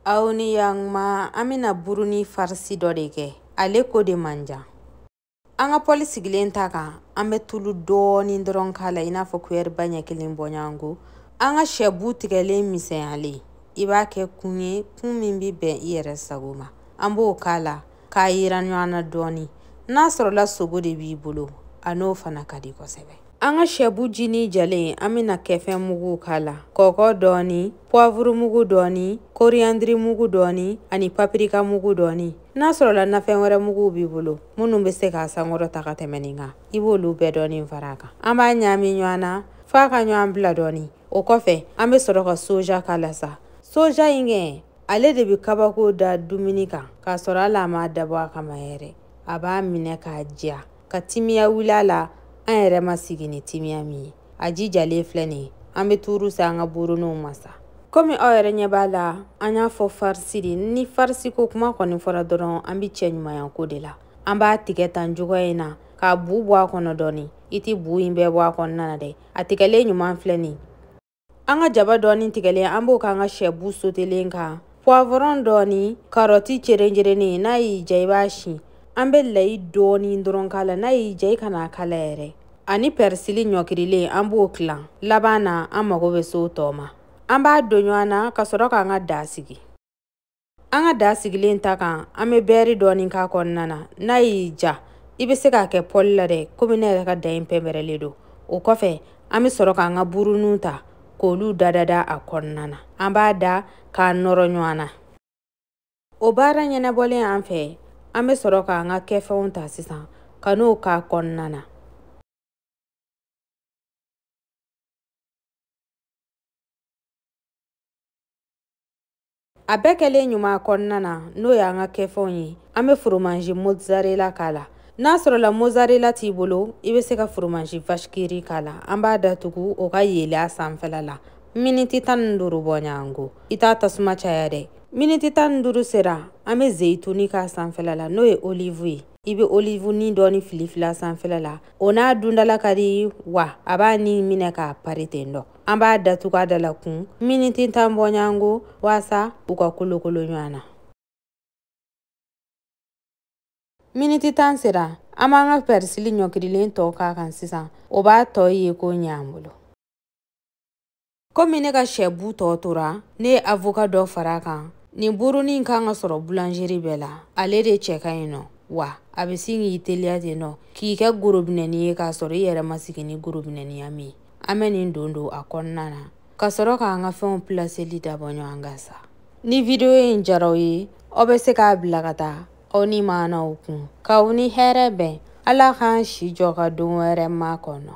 aw ni yanguma an bɛna burunin farisi dɔ de kɛ ale ko de man jan an ka pɔli sigilen ta kan an bɛ tulu dɔɔni dɔrɔn k'a la i n'a fɔ kuyɛri ba ɲɛ kelen bɔɲɔgɔnko an ka sɛbu tigɛlen misɛnyalen i b'a kɛ kun ye kun min bɛ bɛn i yɛrɛ sago ma an b'o k'a la k'a yiran ɲɔgɔn na dɔɔni n'a sɔrɔla sogo de b'i bolo a n'o fana ka di kosɛbɛ an ka sɛbu jinin jalen an bɛna kɛfɛn mugu k'a la kɔkɔ dɔɔni puwavuru mugu dɔɔni koriyandiri mugu dɔɔni ani papirika mugu dɔɔni n'a sɔrɔla nafɛn wɛrɛ muguw b'i bolo minnu bɛ se k'a sankɔrɔta ka tɛmɛ nin kan i b'olu bɛɛ dɔɔni fara a kan an b'a ɲaami ɲɔgɔn na f'a ka ɲɔgɔn bila dɔɔni o kɔfɛ an bɛ sɔrɔ ka soja k'a la sa soja in kɛ ale de bɛ kabako da dumuni kan k'a sɔrɔ hali a m'a dabɔ a kama yɛrɛ a b'a minɛ k'a diya ka timiya wuli a la an yɛrɛ ma sigi ni timiya min ye a ji jalen filɛ nin ye an bɛ tuuru se an ka buruninw ma sa komi aw yɛrɛ ɲɛ b'a la an y'a fɔ farisi de ni farisi ko kuma kɔni fɔra dɔrɔn an bɛ cɛɲumanya ko de la an b'a tigɛ tan cogoya in na k'a bu bɔ a kɔnɔ dɔɔni i tɛ bu in bɛɛ bɔ a kɔnɔna na dɛ a tigɛlen ɲuman filɛ nin an ka jaba dɔɔni tigɛlen an b'o k'an ka sɛbu sotelen kan puwavɔrɔn dɔɔni karɔti cerencerennen n'a y'i ja i b'a si an bɛ layi dɔɔni dɔrɔn k'a la n'a y'i ja i kan'a k'a la yɛrɛ ani pɛrisili ɲɔkirilen an b'o tilan laban na an mago bɛ se o tɔ ma an b'a don ɲɔgɔn na ka sɔrɔ k'an ka da sigi an ka da sigilen ta kan an bɛ bɛɛri dɔɔnin k'a kɔnɔna na n'a y'i ja i bɛ se k'a kɛ pɔli la dɛ komi ne yɛrɛ ka da in pɛnpɛrɛlen don o kɔfɛ an bɛ sɔrɔ k'an ka buruninw ta k'olu dadada a kɔnɔna na an b'a da k'a nɔrɔ ɲɔgɔn na o baara ɲɛnabɔlen an fɛ an bɛ sɔrɔ k'an ka kɛfɛnw ta sisan ka n'o k'a kɔnɔna na a bɛɛ kɛlen ɲuman kɔnɔna na n'o y'an ka kɛfɛnw ye an bɛ foromanzi mozzarella k'a la n'a sɔrɔla mozzarella t'i bolo i bɛ se ka foromanzi vashikiri k'a la an b'a datugu o ka yeele a sanfɛla la miniti tan ni duuru bɔɲango i t'a tasuma caya dɛ miniti tan ni duuru sera an bɛ zeyituni k'a sanfɛla la n'o ye olivu ye i bɛ olivunin dɔɔni filifili a sanfɛla la o n'a dundala ka di wa a b'a ni minɛ k'a pari ten dɔ an b'a datugu a da la kun miniti tan bɔɲango waasa u ka kolokolo ɲɔgɔn na miniti tan sera an b'an ka pɛrisili ɲɔkirilen tɔ k'a kan sisan o b'a tɔ yeko ɲɛ an bolo komi ne ka sɛbu tɔ tora ne ye avoka dɔ fara a kan nin burunin kan ka sɔrɔ bulanzeri bɛɛ la ale de cɛ ka ɲi nɔ wa a bɛ sin k'i teliya ten nɔ k'i kɛ gorobinɛni ye k'a sɔrɔ i yɛrɛ ma sigi ni gorobinɛniya min ye an bɛ nin don don a kɔnɔna na ka sɔrɔ k'an ka fɛnw pilaseli dabɔ ɲɔgɔn kan sa ni video in diyara aw ye aw bɛ se k'a bila ka taa aw nimaanaw kun k'aw ni hɛrɛ bɛn ala k'an si jɔ ka don wɛrɛ makɔnɔ